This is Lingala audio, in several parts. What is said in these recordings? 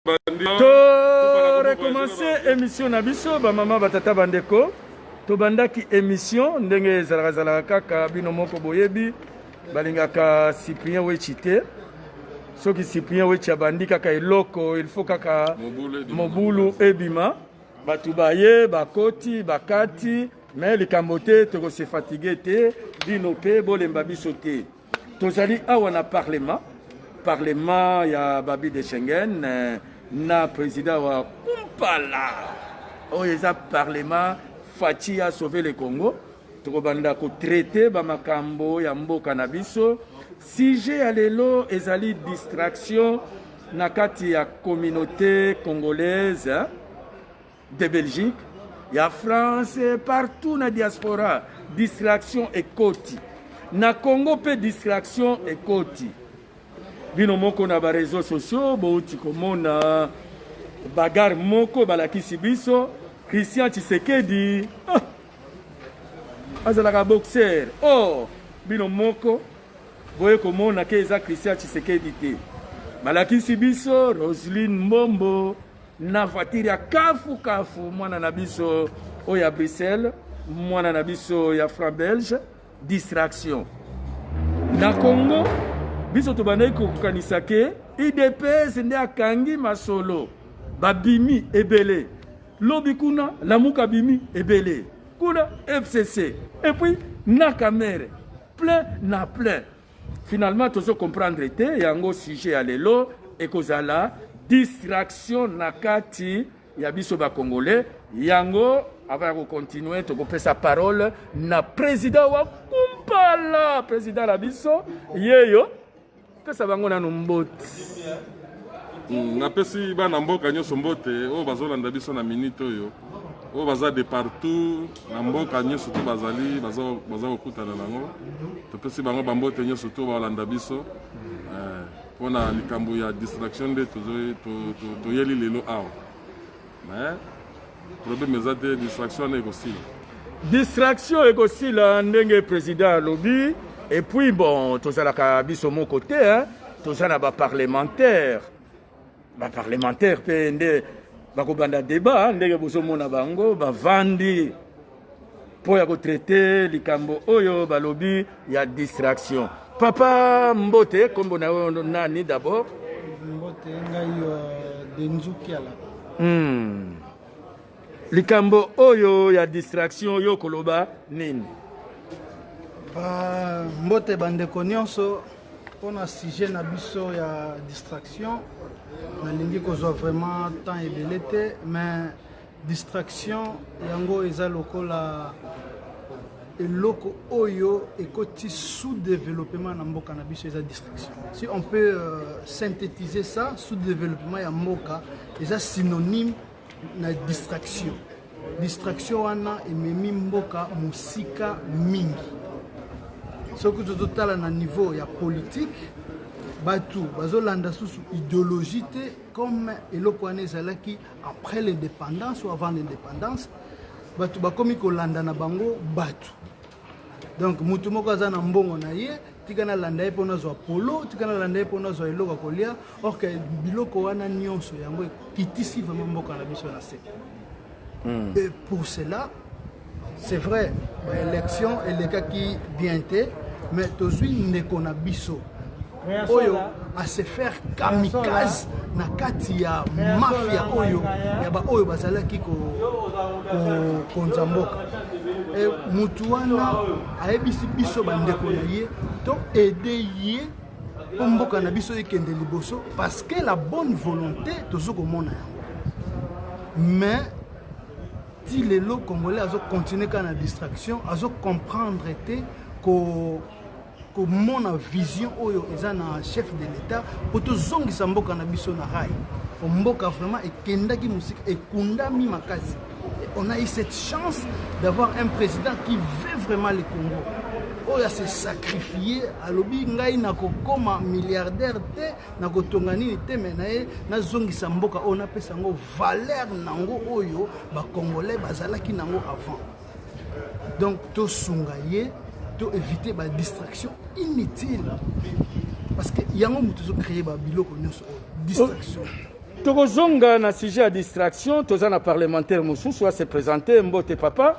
to recommencer émission na biso bamama batata bandeko tobandaki émission ndenge ezalaka zalaka kaka bino moko boyebi balingaka cyprien wechi te soki cyprien wechi abandi kaka eloko il faut kaka mobulu ebima bato baye bakoti bakati me likambo te tokose fatigue te bino mpe bolemba biso te tozali awa na parlement parlement ya babi de schengen eh, na président wa kumpala oyo eza parlement faci ya sauve le congo tokobanda kotraite bamakambo ya mboka na biso sujet ya lelo ezali distraction na kati ya communauté congolaise de Belgique ya France partout na diaspora distraction ekoti na Congo mpe distraction ekoti bino moko na ba réseaux sociaux bouti komona bagarre moko balakisi biso Christian Tshisekedi ah, azalaka boxer oh bino moko boye komona ke eza Christian Tshisekedi te balakisi biso Roseline Mbombo na voiture ya kafu kafu mwana na biso oyo ya bruxelles mwana na biso ya franc belge distraction na congo biso tobandaki kokokanisa ke idps nde akangi masolo babimi ebele lobi kuna lamuka bimi ebele kuna fcc epuis na kamere plein na plein Finalement tozo comprendre te yango sujet ya lelo ekozala distraction na kati ya biso ba congolais yango avant ya kocontinue tokopesa parole na président wa kumpala président na biso yeyo pesa bango nanu mbote hmm, napesi bana mboka nyonso mbote oyo bazolanda biso na minute oyo oyo baza de partout na mboka nyonso to bazali baza kokutana nango topesi bango bambote nyonso to balanda biso eh, mpo na likambo ya distraction nde toyeli lelo awa mais problème eza te distraction wana ekosila distraction ekosila ndenge président alobi epuis bon tozalaka biso moko te toza na baparlementaire ba parlementaire mpe nde bakobanda debat ndenge bozomona bango bavandi mpo ya kotraite likambo oyo balobi ya distraction papa mbote nkombo na yo nani d'abord mbote ngai euh, denzukiala hmm. likambo oyo ya distraction yo koloba nini ba mbote bandeko nyonso pona sujet na biso ya distraction nalingi kozwa vraiment temps ebele te mais distraction yango eza lokola eloko oyo ekoti sous-développement na mboka na biso eza distraction si on peut euh, synthétiser ça sous-développement ya mboka eza synonyme na distraction distraction wana ememi mboka mosika mingi soki tozotala na niveau ya politike bato bazolanda susu idéologie te comme eloko wana ezalaki après l'indépendance ou avant l'indépendance bato bakomi kolanda na bango bato donc moto moko aza na mbongo na ye tika nalanda ye mpo nazwa polo tika nalanda ye mpo nazwa eloko ya kolia orke biloko wana nyonso yango ekitisi vraimen mboka na biso na se hmm. et pour cela c'est vrai baélection elekaki bien te mais tozwi ndeko na biso oyo ase faire kamikaze na kati ya mafia oyo ya baoyo bazalaki kokonza mboka e, motu wana ayebisi biso bandeko na ye to aide ye mpo mboka na biso ekende liboso parce que la bonne volonté tozo komona yango mais ti lelo congolais azo continuer kaka na distraction azo comprendre te ko komona vision oyo eza na chef de l'état mpo tozongisa mboka na biso na rai mboka vraiment ekendaki mosika ekundami makasi On a eu cette chance d'avoir un président qui veut vraiment le Congo. oyo ase sacrifie alobi ngai nakokoma milliardaire te nakotonga nini te me na ye nazongisa mboka oyo napesa yango valeur nango oyo bacongolais bazalaki nango avant donc tosunga ye to éviter badistraction inutile parce que yango moto ezocreye babiloko nyonso oyo distraction oh. tokozonga na sujet ya distraction toza na parlementaire mosusu ase présente mbote papa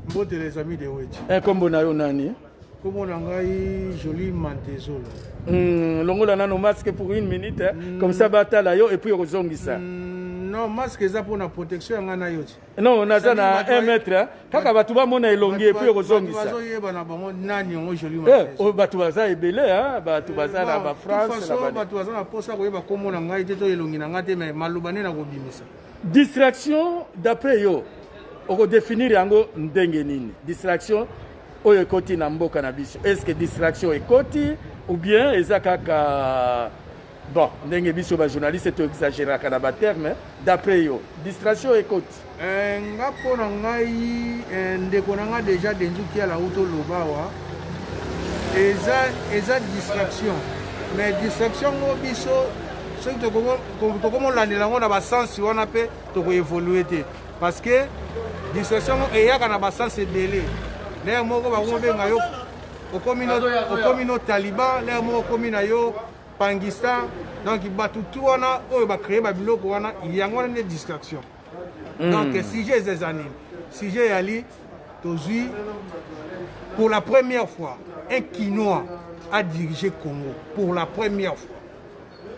mbote les amis de weti nkombo eh, na yo nani nkombo na ngai joli mantezola hmm, longola nano masque pour une minute eh? mm. comme ça batala yo epuis okozongisa mm, non masque eza mpona protection ya ngai na yo ti non naza na 1 mètre kaka bato bamona elongi epui okozongisa eh, bato baza ebele bato eh, baza na bafrancebato baza na mposa koyeba nkombo na ngai te to elongi na ngai te mai maloba nde nakobimisa distraction d'après yo okodefinir yango ndenge nini distraction oyo ekoti na mboka na biso est ce que distraction ekoti ou bien eza kaka Bon, ndenge biso ba journaliste to exageraka na ba terme, d'après yo, distraction ekoti. Eh, nga mpo na ngai eh, ndeko na nga deja denzuki ala uto lobawa eza eza distraction mais distraction ngo biso soki tokomolandela yango na basense wana mpe tokoevolue te parce que distraction ngo eyaka na basense ebele lere moko bakomobenga yo okomi no taliban lere moko okomi na yo Pangistan donc bato tu wana oyo ba créer ba biloko wana yango wana nde distraction mm. donc sujet eza eza nini sujet yali tozwi pour la première fois un kinois a dirigé congo pour la première fois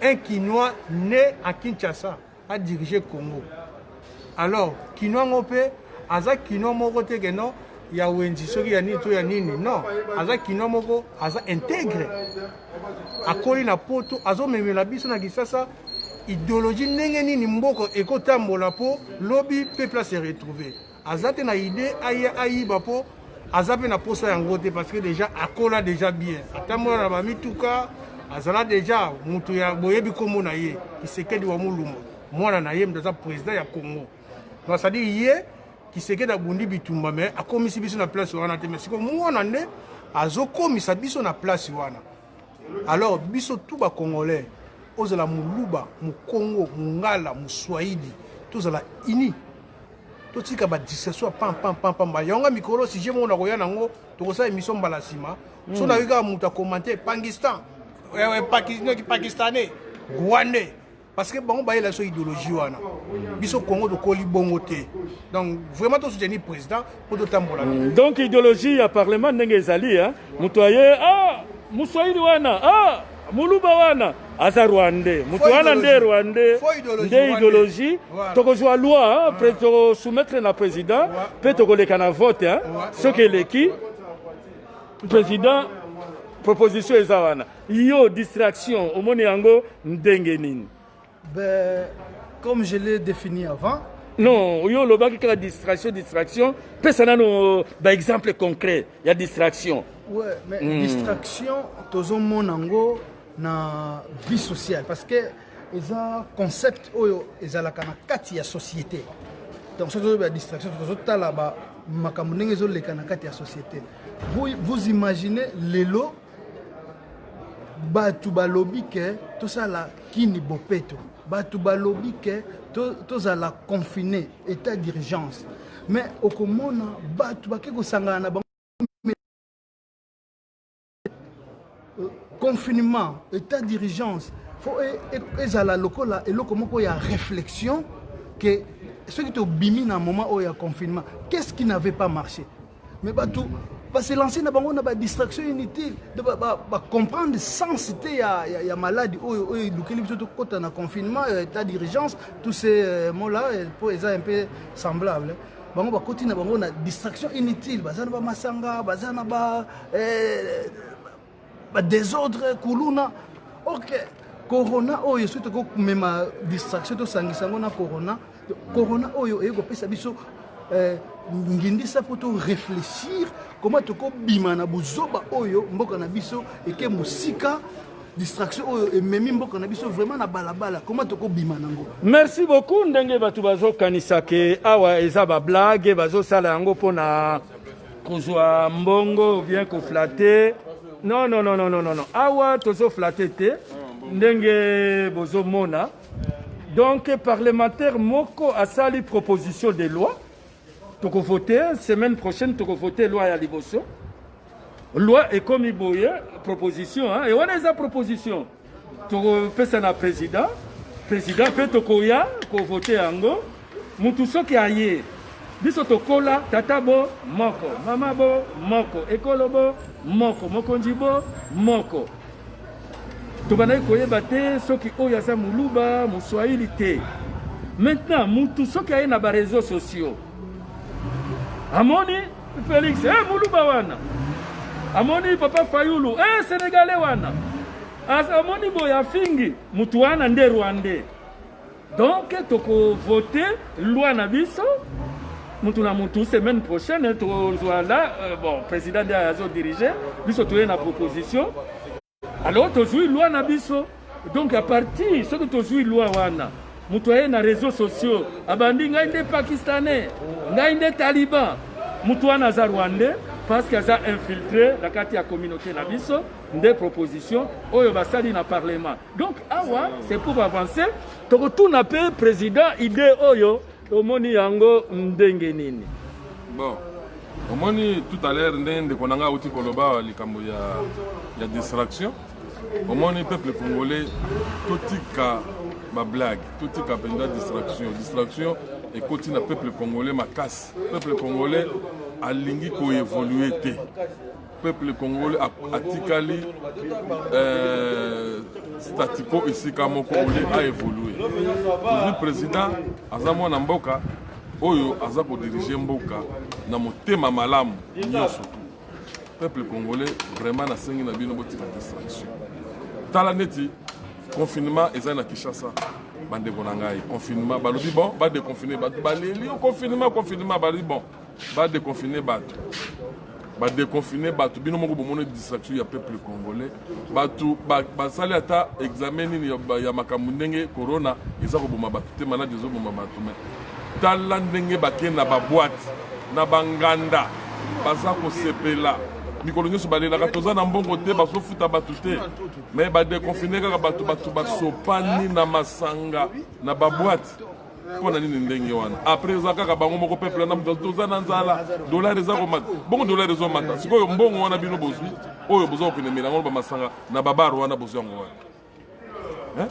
un kinois né à kinshasa a diriger Congo alors kinois ngo pe aza kinois moko te que non ya wenzi soki ya nini to ya nini non aza kino moko aza integre akoli na poto azomemela biso na kisasa ideologie ndenge nini mboko ekotambola mpo lobi peuple se retrouver aza te na idee aya ayiba mpo aza mpe na mposa yango te parce que déjà akola déjà bien atambola na bamituka azala déjà moto ya boyebi nkombo na ye kisekedi wa molumba mwana na ye moto aza président ya congo donc cestadire ye kisekedi abundi bitumba mais akomisi biso na place wana te mais sikoyo mwana nde azokomisa biso na place wana Alors biso tout ba congolais ozala muluba, mukongo, mungala, muswahili tozala unis. totika ba distraction pam pam pam pam yango nga mikolo sujet moko nakoya nango tokosala émission mbala nsima mm. so nayoki kaka moto akomante pangistan eh, eh, pakistanais rwandais parce que bango bayela biso idéologie wana biso congo tokoli bongo te donc vraiment tosoutenir président mpo totambola mm, donc idéologie ya parlement ndenge ezali moto aye ah, moswahili wana ah, muluba wana aza rwandais moto wana nde rwandais nde idéologie tokozwa loi mpe tosoumettre na président mpe tokoleka na vote soki eleki président proposition eza wana Yo distraction omoni yango ndenge nini? Ben, comme je l'ai défini avant. Non, yo olobaki kaka distraction distraction, pesa nano euh, ba exemple concret ya distraction. Ouais, mais mm. distraction tozomona yango na vie sociale parce que eza concept oyo ezalaka na kati ya société donc soki tozoloba ya distraction tozotala makambo ndenge ezoleka na kati ya société vous, vous imaginez lelo bato balobi ke tosala kini bopeto bato balobi ke tozala to confine état d'urgence mais okomona bato bake kosangana na bango euh, confinement état d'urgence fo e, e, ezala lokola eloko moko ya réflexion ke soki tobimi na moment oyo ya confinement qu'est ce qui n'avait pas marché Mais batu ba se lancer na bango na ba distraction inutile de ba, ba, ba comprendre sens te ya, ya, ya maladi oyo oyo elukeli biso tokota na confinement ya état d'urgence tous ces euh, mots là po eza un peu semblable bango bakoti na bango na distraction inutile baza na bamasanga baza na ba eh, ba desordre kuluna ok corona oyo soki tokoki komema distraction tosangisa yango na corona corona oyo eye kopesa biso eh, ngindisa mpo to réfléchir koma tokobima na buzoba oyo mboka na biso eke mosika distraction oyo ememi mboka na biso vraiment na balabala koma tokobima nango merci beaucoup ndenge bato bazokanisa ke awa eza bablague bazosala yango mpona kozwa mbongo bien koflate non non non non non awa tozoflate te ndenge bozomona donc parlementaire moko asali proposition de loi tokovote semaine prochaine tokovote loi ya liboso loi ekomi boye proposition hein? et wana eza proposition tokopesa na president president mpe tokoya kovote yango mutu soki aye biso tokola tata bo moko mama bo moko ekolo bo moko mokonzi bo moko tobandaki koyeba te soki oyo aza moluba moswahili te maintenant mutu soki aye na bareseau sociaux amoni Felix eh, muluba wana amoni papa Fayulu eh, Senegalais wana amoni boye afingi mutu wana nde Rwandais donc tokovote loi na biso mutu na mutu semaine prochaine tozwa la euh, bon président nde azodirige biso toye na proposition Alors tozui loi na biso donc à partir soki tozui loi wana moto aye na réseaux sociaux abandi ngai nde pakistanais ngai nde taliban moto wana aza rwandais parce que aza infiltré na kati ya communauté na biso nde proposition oyo basali na parlement donc awa c'est pour avancer tokotuna mpe président idée oyo Omoni yango ndenge nini? Bon, omoni tout à l'heure nde ndeko na ngai auti koloba likambo ya, ya distraction. Omoni peuple congolais totika bablague, totika mpenza distraction. Distraction ekoti na peuple congolais makasi. Peuple congolais alingi koevolue te. peuple congolais atikali euh, statico esika moko ole a évoluer tozwi président aza mwana mboka oyo aza kodirige mboka na motema malamu nyonso tu peuple congolais vraiment nasengi na bino botika distraction tala neti confinement eza na kinshasa bandeko na ngai confinement balobi bon badeconfine bato baleli confinement confinement balobi bon Ba deconfiner bato. Ba deconfiner bato. Bino moko bomoni distraction ya peuple congolais. Bato basali ata examen nini ya makambo ndenge corona eza koboma bato te maladi ezoboma bato mais tala ndenge bake na baboite na banganda baza kosepela mikolo nyonso balelaka toza na mbongo te bazofuta bato te me badekonfine kaka bato bato basopani na masanga na baboite mpo na nini ndenge wana apres eza kaka bango moko peuple na moto toza na nzala dollar eza komata bongo dollar ezomata sikoyo mbongo wana bino bozwi oyo boza kokende mela yango bamasanga na babar wana bozwi yango wana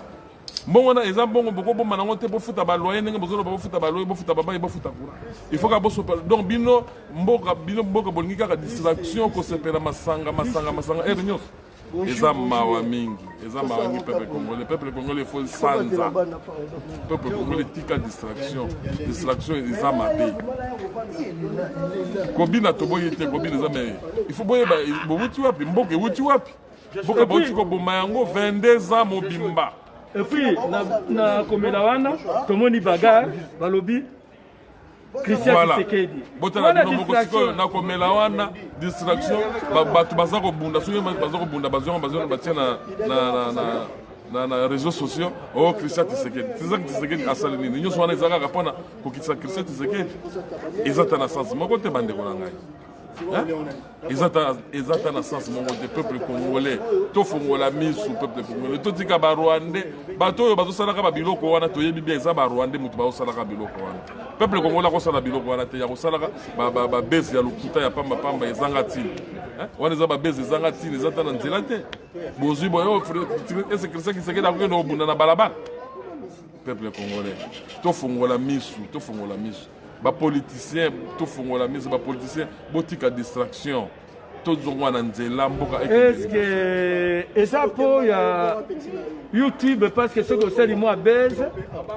mbongo wana eza mbongo bokobomba nango te bofuta baloye ndenge bozoloba bofuta baloye bofuta babai bofuta kura il faut ka bosopa donc bino mboka bino mboka bolingi kaka distraction kosepela masanga masanga masanga ere nyonso eza mawa mingi eza mawa mingi peuple congolais peuple congolais faut sanza peuple congolais tika distraction distraction eza mabe kobina toboyi te kobina eza me il faut boyeba bowuti wapi mboka ewuti wapi mboka bauti koboma yango 22 ans mobimba epuis na komela wana tomoni bagar balobi Christian Tshisekedi. Botala bino moko sikoyo na komela wana distraction bato baza kobunda soki baza kobunda bazwanga bazwanga batia na na na na na réseaux sociaux o oh, christian tisekedi tizaki tisekedi asali nini nyonso wana eza kaka mpona kokitisa christian tisekedi eza ta na sansi moko te bandeko na ngai eza ata na sens moko te peuple congolais tofongola misu peuple congolais totika barwandais bato oyo bazosalaka babiloko wana toyebi bien eza barwandais moto bazosalaka biloko wana peuple congolais akosala biloko wana te ya kosalaka babese ya lokuta ya pambapamba ezanga ntina wana eza babese ezanga ntina eza ata na nzela te bozwi boyo ese christian kisekedi akokende kobunda na balabala peuple congolais tofongola misu tofongola misu ba politiciens tofongola miso ba politiciens botika distraction tozonga na nzela mboka eske eza mpo ya youtube parce que soki osali mwa base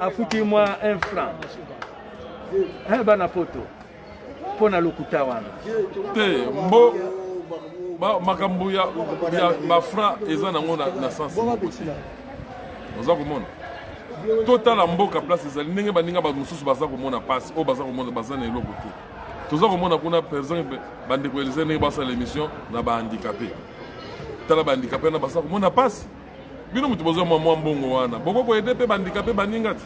afuti mwa un franc eh, bana poto mpo na lokuta wana te mbo makambo ya bafranc eza nango na sense oza komona totala mboka place ezali ndenge baninga bato mosusu baza komona mpasi oyo baza komona baza na eloko te toza komona kuna par exemple bandeko ya lise ndenge basala émission na bahandikape tala bahandikape wana baza komona mpasi bino moto bozwa mwa mwa mbongo wana bokoki koyede mpe bahandikape baninga te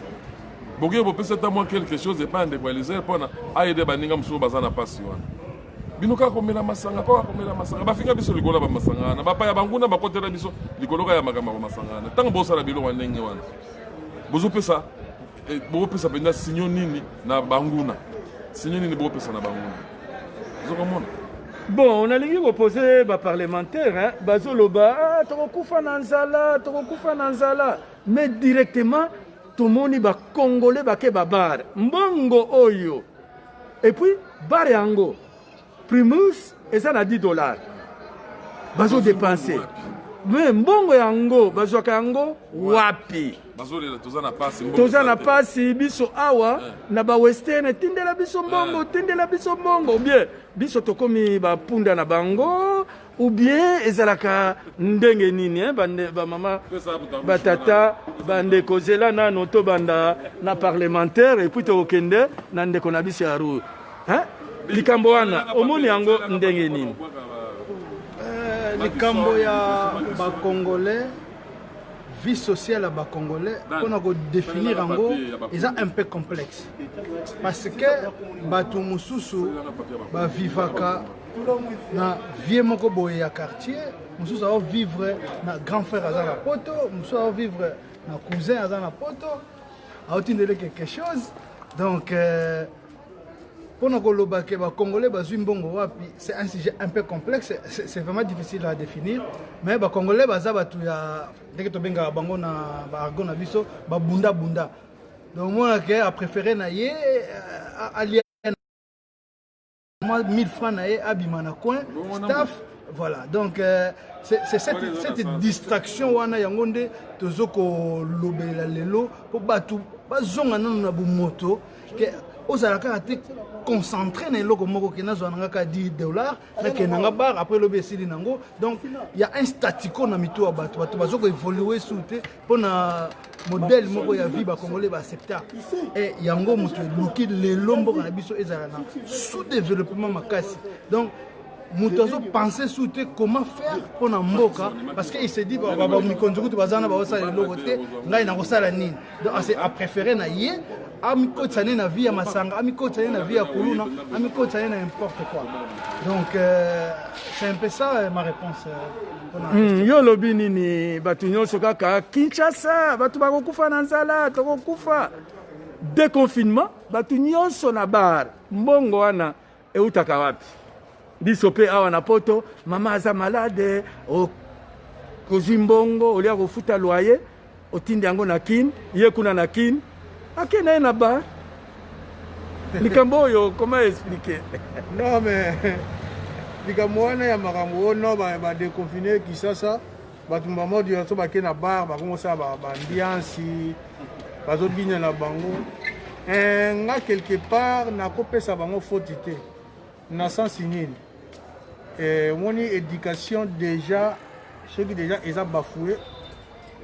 bokoki bopesa ata mwa quelque chose epai ya ndeko ya lise mpona ayede baninga mosusu baza na mpasi wana bino kaka komela masanga kaka komela masanga bafinga biso likolo ya bamasanga wana bapaya banguna bakotela biso likolo kaka ya makambo ya bamasanga wana ntango bosala biloko ya ndenge wana bozopesa eh, bokopesa mpenza sinyo nini na banguna sinyo nini bokopesa na banguna ozokomona bon nalingi kopose baparlementaire bazoloba ah, tokokufa na nzala tokokufa na nzala mais directement tomoni bacongolais bake babare mbongo oyo Et puis bar yango primus eza na 10 dollars bazo dépenser me mbongo yango bazwaka yango wapi toza na pasi biso awa eh. na bawestern tindela biso mbongo eh. tindela biso mbongo bien biso tokomi bapunda na bango ou bien ezalaka ndenge nini eh? bamama batata bandeko zela nano tobanda na parlementaire epuis tokokende na ndeko na biso ya rue eh? likambo wana omoni yango ndenge nini eh, likambo ya bacongolais vie sociale ya bacongolais mpona kodefinir yango eza un peu complexe parce que bato mosusu bavivaka na vie moko boye ya quartier mosusu ao vivre na grand frère aza na poto mosusu ao vivre na cousin aza na poto aotindele quelque chose donc euh, mpo na koloba ke bacongolais bazwi mbongo wapi c'est un sujet un peu complexe c'est vraiment difficile à définir mais bacongolais baza bato ya ndenge tobengaka bango na baargo na biso babundabunda donc monake apréféré na ye euh, alia mwa 1000 francs na ye abima na coin staff voilà donc euh, c'est cette, cette distraction wana yango nde tozo kolobelela lelo mpo bato bazonga nano na bomoto ke ozala kaka te concentré na eloko moko ke nazwa na nga ka 10 dollar nakenda nga bar après lobi esili na yango donc ya un statico na mitu ya bato bato bazo koevolue su te pona modèle moko ya vie bacongolais baaccepta e yango moto eluki lelo mboka na biso ezala na sous développement makasi donc moto azopense su te comment faire mpo na mboka parce que il se dit mikonzi kutu baza na baosala eloko te ngai nakosala nini donc apréféré na ye amikotisa ne na vie ya masanga amikotisa ne na vie ya kuluna amikotisa ne na importe quoi donc euh, c'est un peu ça euh, ma réponse euh, hmm, yo olobi nini bato nyonso kaka kinshasa bato bakokufa na nzala tokokufa deconfinement bato nyonso na bar mbongo wana Eutaka wapi? Biso pe awa na poto mama aza malade o kozwi mbongo olia kofuta loyer otindi yango na Kin, ye kuna na Kin ake na ye na bar likambo oyo comment expliquer non mais likambo wana ya makambo oyo no ba deconfine kisasa bato mbamodi yanso bake na bar bakongosala bambiansi bazobina na bango eh, nga quelque part nakopesa bango foti te na sensi nini eh, omoni éducation déjà soki déjà eza bafoue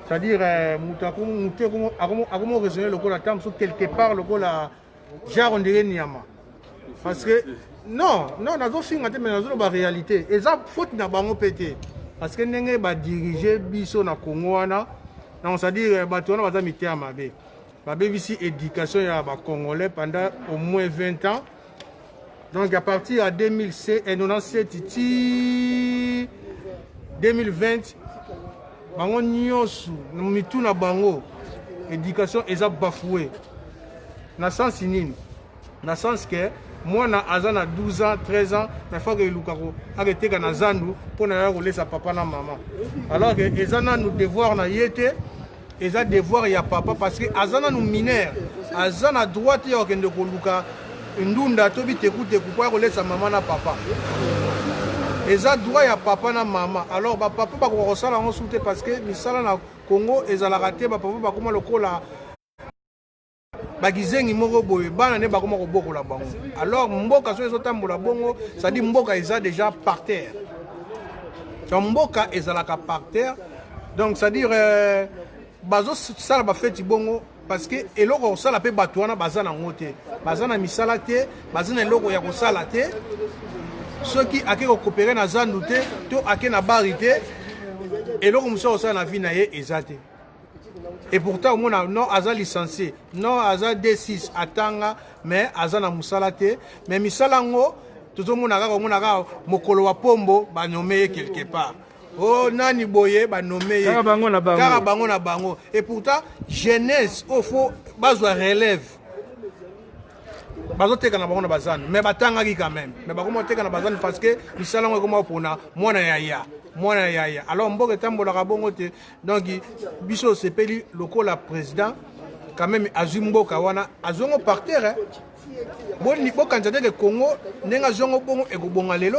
c'est-à-dire eh, moto akomo raisonne lokola ntango mosusu quelque part lokola genre on dirait niama parce que non non nazofinga te mais nazoloba réalité eza faute na bango mpe te parce que ndenge badirige biso na congo wana donc c'est-à-dire euh, bato wana baza miteya mabe babebisi éducation ya bacongolais pendant au moins 20 ans Donc à partir ya 2097 ti 2020 bango nyonso na mitu na bango éducation eza bafoue na sensi nini na sensi ke mwana aza na 12 ans 13 ans mais faka eluka aketeka na zandu mpo na ya kolesa papa na mama alors ke eza nanu devoir na ye te eza devoir ya papa parce que aza nanu mineur aza na droit te ya kokende koluka ndunda to bitekuteku mpo ya kolesa mama na papa eza droit ya papa na mama alors bapapa bakoka kosala yango su te parce que misala na congo ezalaka te bapapa bakoma lokola bakizengi moko boye bana nde bakoma kobokola bango alors mboka soki ezotambola bongo cestadire mboka eza déjà par terre donc mboka ezalaka par terre donc cestadire euh, bazosala bafeti bongo parce que eloko ya kosala mpe bato wana baza nango te baza na misala te baza na eloko ya kosala te soki ake kokopere na zandu te to ake na bari te eloko mosusu ya kosala na vi na ye eza te et pourtant omona non aza licencie non aza d6 atanga mais aza na mosala te mais misala yango tozomona kaka omona kaka mokolo wa pombo banome ye quelque part o oh, nani boye banome ye kaka bango na bango, kaka bango, na bango. et pourtant jeunesse oyo oh, fo bazwa relève bazoteka na bango na bazando mais batangaki quand même mais bakoma koteka na bazando parce que misala yango ekoma kopona mwana ya ya mwana ya ya alors mboka etambolaka bongo te donc biso osepeli lokola président quand même azwi mboka wana azwi yango par terre bokanisa te ke congo ndenge azwi yango bongo ekobonga lelo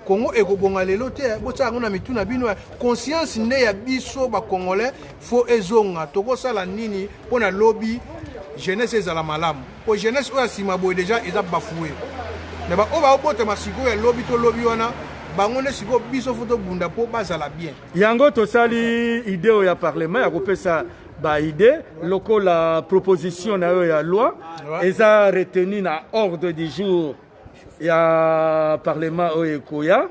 congo ekobonga lelo te botia yango na mitu na bino conscience nde ya biso bacongolais fo ezonga tokosala nini mpo na lobi jeunesse ezala malamu mpo jeunesse oyo ya nsima boye deja eza bafoue me baoyo baobotama sikoyo ya lobi to lobi wana bango nde sikoyo biso fo tobunda mpo bazala bien Yango tosali idee oyo ya parlement ya kopesa ba idée lokola proposition na yo ya loi eza retenu na ordre du jour ya parlement oyo ekoya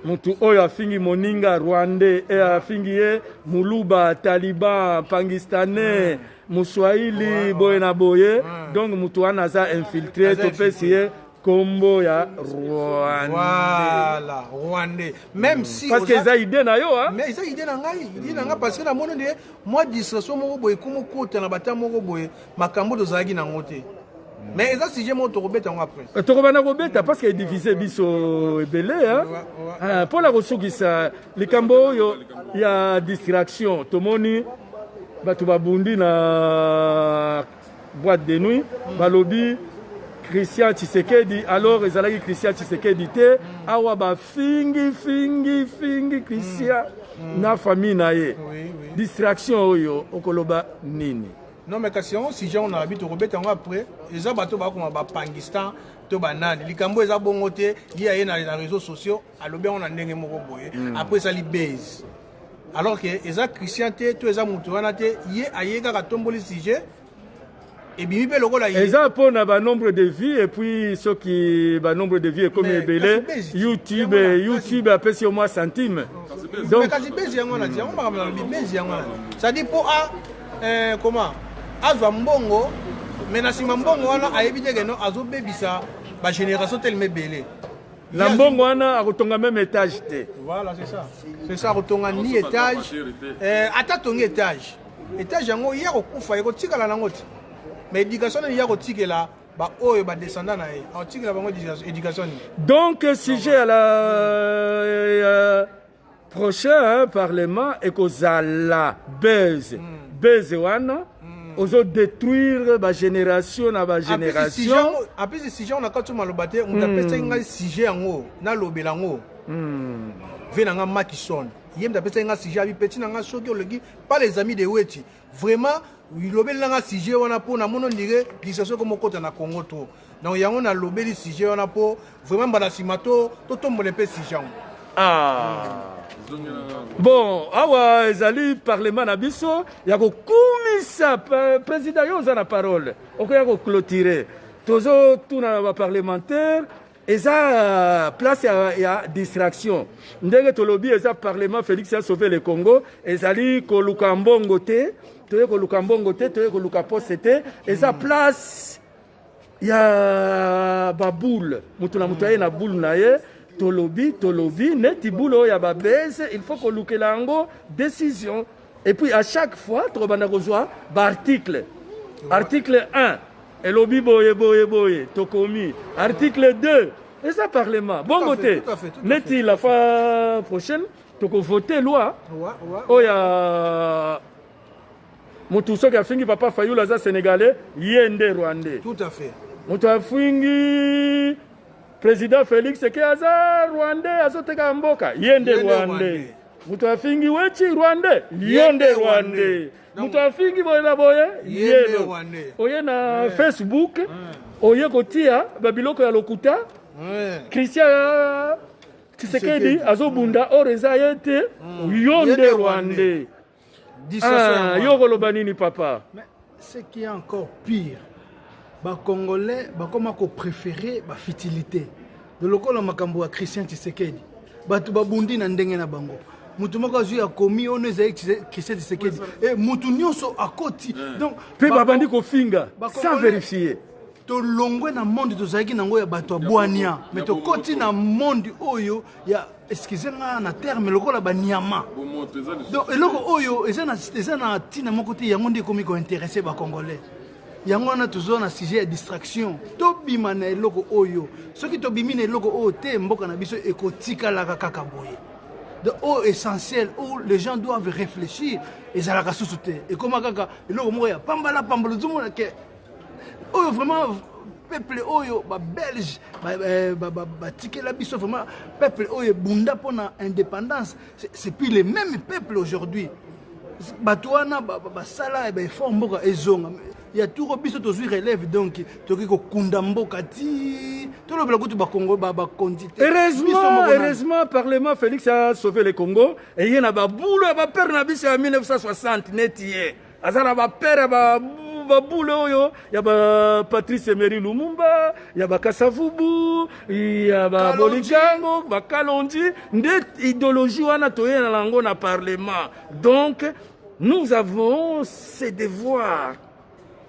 mutu oyo afingi moninga rwandais e afingi ye muluba taliban pangistanais muswahili boye na boye donc mutu wana aza infiltre topesi ye kombo ya rwandela rwandais même mm. si parce que eza idée na yo hein mais eza idée na ngai idée na ngai parce que na moni nde mwa distraction moko boye komokota na bata moko boye makambo tozalaki nango te mm. mais eza sujet moko tokobeta yango après euh, tokobanda kobeta parce que edivise biso ebele ah, mpo na kosukisa likambo oyo ya distraction tomoni bato babundi na boîte de nuit balobi Christian Tshisekedi alors ezalaki Christian Tshisekedi te mm. awa ba fingi fingi fingi Christian mm. mm. na famille na ye oui, oui. distraction oyo okoloba nini non mais kasi yango sujet on alabi tokobeta yango après eza bato bakoma bapangistan to banani likambo eza bongo te ye aye na réseaux sociaux alobi yango na ndenge moko boye mm. après esali base alors que eza christian te to eza moto wana te ye aye kaka atomboli sujet ebimi mpe lokola ye eza mpo na banombre de vie epuis soki banombre de vie ekomi ebele youtube youtube apesi yo mwa centime donc kasi bezi yango wana ti yango makambo na lobi bezi yango wana cestadire mpo a eh, comment azwa mbongo mais na nsima mbongo wana ayebi te keno azobebisa bagénération telema ebele na mbongo wana akotonga meme etage te voilà c'est ça c'est ça akotonga ni etage eh, ata tongi etage etage yango ye akokufa ekotikala nango te mais éducation nini ye akotikela baoyo badescendant na ye akotikela bango éducation nini donc sujet ya la Prochain parlement ekozala buzz. Buzz wana ozo détruire ba génération na ba génération. Apesi sujet yango na kati maloba te, moto apesaki ngai sujet yango nalobela yango. Ve na ngai Makison ye moto apesaki ngai sujet abi peti na ngai soki oleki pas les amis de Weti Vraiment lobeli nanga sujet wana po na mono ndire distraction ko mokota na Congo trop. Donc yango na lobeli sujet wana po vraiment mbala sima to to tombole pe sujet yango. Ah. Bon, awa ezali parlement na biso ya kokumisa président yo oza na parole. Okoya ko clôturer. Tozo tuna na ba parlementaires eza euh, place ya, ya distraction ndenge tolobi eza parlement félix ya sauve le congo ezali koluka mbongo te toye koluka mbongo te toye koluka poste te eza hmm. place ya baboule moto na moto aye na boule na ye tolobi tolobi neti boule oyo ya babese il faut kolukela yango décision Et puis à chaque fois tokobanda kozwa baarticle article 1 elobi boye boye boye tokomi article 2 eza parlement bongo te neti la fois prochaine tokovote loi oyo ya motu soki afingi papa fayulu aza sénégalais ye nde rwandais moto afingi président félix eke aza rwandais azoteka mboka ye nde rwandais moto afingi weti rwande ye nde rwande moto afingi boye na boye ye nde oye na facebook oye kotia babiloko ya lokuta christian tshisekedi azobunda or eza ye te yo nde rwande Ah, yo okoloba nini papa Mais ce qui est encore pire bacongolais bakoma kopréféré bafitilité de lokola makambo ya christian tshisekedi bato babundi na ndenge na bango moto moko azwi akomi ono ezali christian tshisekedi e moto nyonso akoti donc mpe babandi kofinga sans vérifier tolongwe na monde tozalaki nango ya bato ya bwania mais tokoti na monde oyo ya excuse nga na terme lokola banyama donc eloko oyo eza na eza na ntina moko te yango nde ekomi kointeresse bacongolais yango wana toza na sujet ya distraction tobima na eloko oyo soki tobimi na eloko oyo te mboka na biso ekotikalaka kaka boye de oyo essentiel où les gens doivent réfléchir ezalaka susu te ekoma kaka eloko moko ya pambala pambala ozomona ke oyo vraiment peuple oyo ba belge batikela biso vraiment peuple oyo ebunda mpona indépendance c'est puis les mêmes peuple aujourd'hui bato wana basala ya baeffort mboka ezonga ya turo biso tozwi relève donc tokoki kokunda mboka ti tolobela kutu bakongo bakonzi te heureusement parlement félix a sauve le congo eye na babulo ya bapere na biso ya 1960 neti ye aza na bapere baboule oyo ya ba patrice emery lumumba ya bakasavubu ya babolikango bakalonji nde idéologie wana toyela na yango na parlement donc nous avons ce devoir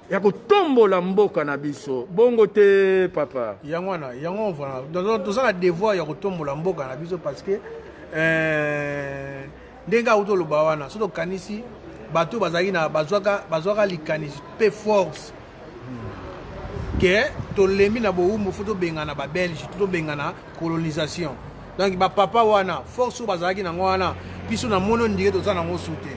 ya kotombola mboka na biso bongo te papa yango wana yango voilà toza na devoir ya kotombola mboka na biso parce que euh... ndenge auti oloba wana soki tokanisi bato bazalaki na bazwaka bazwaka likanisi mpe force ke tolembi na bowumbu fo tobengana babelge to tobengana colonisation donc bapapa wana force oyo bazalaki nango wana biso na mono ndike toza nango su te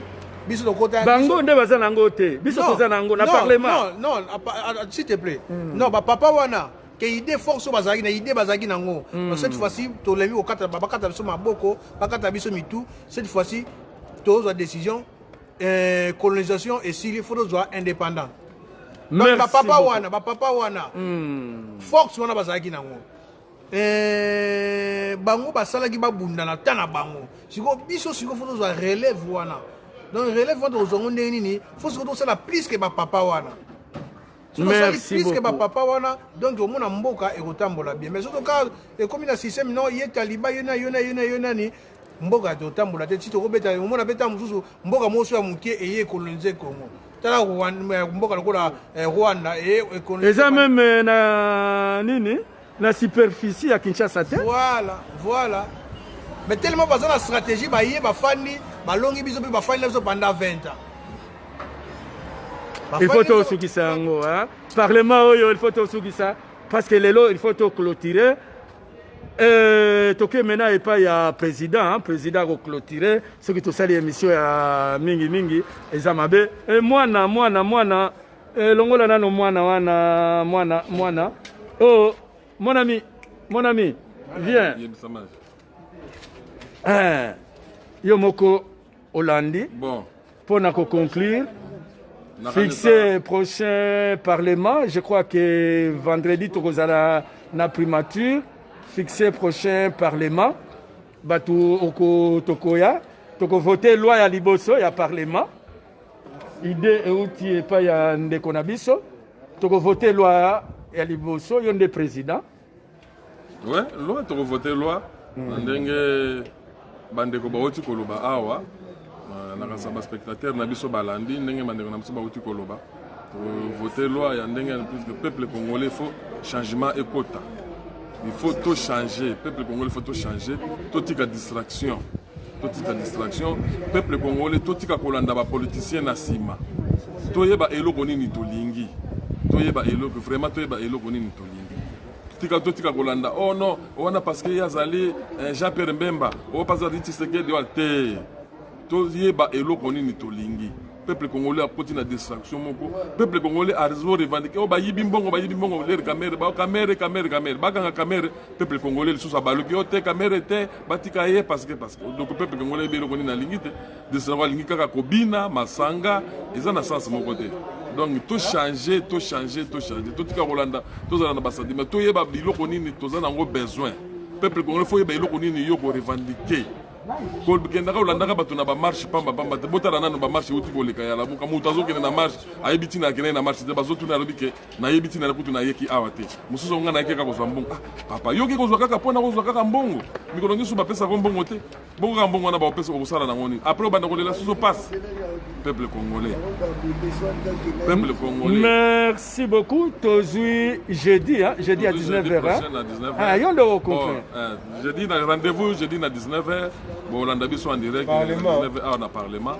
biso tokota bango nde baza nango te biso toza nango na parlement non non s'il te plaît hmm. non bapapa wana ke idée force oyo bazalaki na idée bazalaki nango mm. cette fois-ci tolembi kokata bakata biso maboko bakata biso mitu cette fois-ci tozwa décision euh, colonisation esili fo tozwa indépendant donc bapapa wana bapapa wana mm. force wana bazalaki nango euh, bango basalaki babunda na ta na bango sikoyo biso sikoyo fo tozwa relève wana donc relève wana tokozwa ngo ndenge nini fo sikoyo tosala plus ke bapapa wana sosali plus que bapapa wana donc omona mboka ekotambola bien mais soki oka ekomi na système no ye taliba yo na yo na yo na yo nani mboka totambola te ti tokobeta omona beta mosusu mboka mosusu ya moke eye ekolonize congo tala mboka lokola eh, rwanda eza meme eh, na nini Na superficie ya Kinshasa te. Voilà, voilà. Mais tellement baza na stratégie baye bafandi balongi biso mpe bafandi na biso pendant 20 ans. Il faut tosukisa yango hein. Parlement oyo il faut tosukisa parce que lelo il faut to clôturer Euh, toke maintenant epai ya président hein, président akoclotire soki tosali émission ya mingi mingi eza mabe e, mwana mwana mwana Eh, longola nano mwana wana mwana mwana. Oh, mon ami, mon ami, viens. Eh, yo moko olandi. Bon. Pour na ko conclure. Fixer prochain parlement, je crois que vendredi tokozala na primature. Fixer prochain parlement. Batu oko tokoya. Toko voter loi ya liboso ya parlement. Idee euti epai ya ndeko na biso, tokovote loi ya liboso, yo nde president. Ouais, loi tokovote loi mm. na ndenge bandeko bauti koloba awa euh, na kasa baspectateur na biso balandi ndenge bandeko na biso bauti koloba voter loi ya ndenge plus que peuple congolais faut changement ekota il faut tout changer peuple congolais faut tout changer totika distraction totika distraction peuple congolais totika kolanda ba politiciens na sima toyeba eloko nini tolingi toyeba eloko vraiment toyeba eloko nini tolingi tika totika kolanda oh non wana parce que ye azali eh, jean pierre mbemba oyo oh, mpe azali tshisekedi wana te toyeba eloko nini tolingi peuple congolais akoti na distraction moko peuple congolais azo revendiquer oyo oh, bayibi mbongo bayibi mbongo lere kamere ba kamere kamere kamere bakanga kamere peuple congolais lisusu abaluki yo oh, te kamere te batika ye parce que parce que donc peuple congolais ebi eloko nini alingi te distraction alingi kaka kobina masanga eza na sens moko te donc tochange tochange tochange totika kolanda tozala na basentiment toyeba biloko nini toza na yango besoin peuple congolais fo yeba eloko nini yo korevendiquer kokendaka olandaka bato na bamarche pamba pamba te botala nano bamarche euti koleka ya lamuka moto azokende na marche ayebi ntina akendai na marche te bazotuna alobi ke nayebi ntina na kutu nayeki awa te mosusu yango ngai nayeki kaka kozwa mbongo ah, papa yoki kozwa kaka mpo na kozwa kaka mbongo mikolo nyonso bapesaka mbongo te bongo kaka mbongo wana baopesa okosala nango nini apres obanda kolela susu pasi peuple congolais peuple congolais merci beaucoup tozwi jeudi jeudi à 19 h yo nde okompre jeudi na rendez-vous jeudi na 19h bolanda biso en direct 19h awa na parlement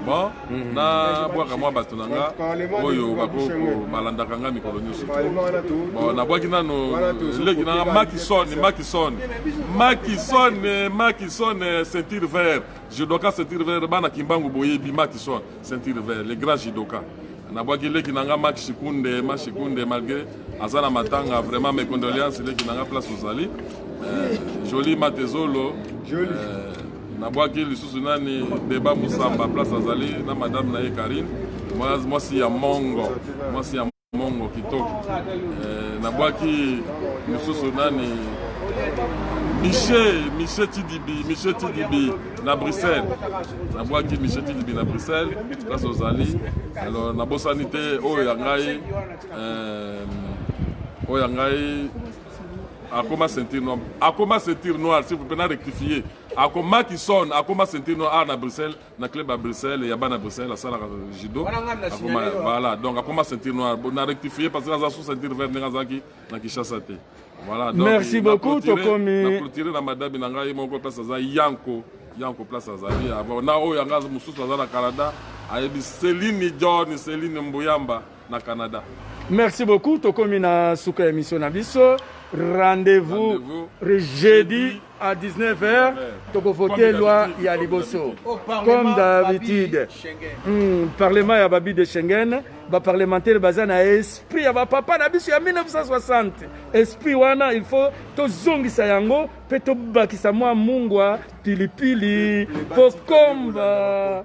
bon mhm. na bwaka mwa bato na nga oyo balandaka nga mikolo nyonso bon nabwaki nano leki na nga makison makison makison makison ceinture vert je doka ceinture vert bana kimbangu boyebi makison ceinture vert le grand judoka nabwaki leki na nga mak shikunde ma shikunde malgré aza na matanga vraiment mes condoléances leki na nga place ozali euh, joli matezolo euh, nabwaki lisusu nani beba musamba place azali na madame na ye karine mwasi ya mongo mwasi ya Mongo kitoko eh, nabwaki mosusu nani Michel Michel Tidibi Michel Tidibi na Bruxelles nabwaki Michel Tidibi na Bruxelles place ozali alors nabosani te oyo ya ngai eh, oyo ya ngai akoma ceinture noire akoma ceinture noire s'il vous plaît na rectifier akomaki son akoma ceinture noire awa na Bruxelles na club ya bruxelles ya bana bruxelles asalaka judo akoma voilà donc akoma ceinture noire na rectifie parce que aza sous ceinture vert ndenge azalaki na kinshasa te voilà donc merci beaucoup tokomi na clôture na madame na ngai moko place aza yanko yanko place azali na oyo yanga mosusu aza na canada ayebi celine john celine mbuyamba na Canada. Merci beaucoup. Tokomi na suka émission na biso. Rendez-vous Rendez jeudi à 19h. Toko voter loi ya liboso. Comme d'habitude. Hmm, parlement ya babi de Schengen. Ba parlementaire baza na esprit ya ba papa na biso ya 1960. Esprit wana il faut tozongisa yango pe tobakisa mwa mungwa pilipili pokomba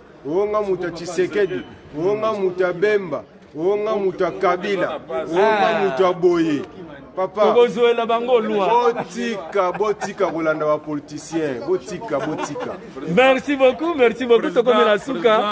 o nga moto ya tshisekedi o nga moto ya bemba o nga moto ya kabila o nga ah. moto ya boye papa tokozwela bango lwa botika botika kolanda bapoliticien botika botika merci beaucoup merci beaucoup tokomela suka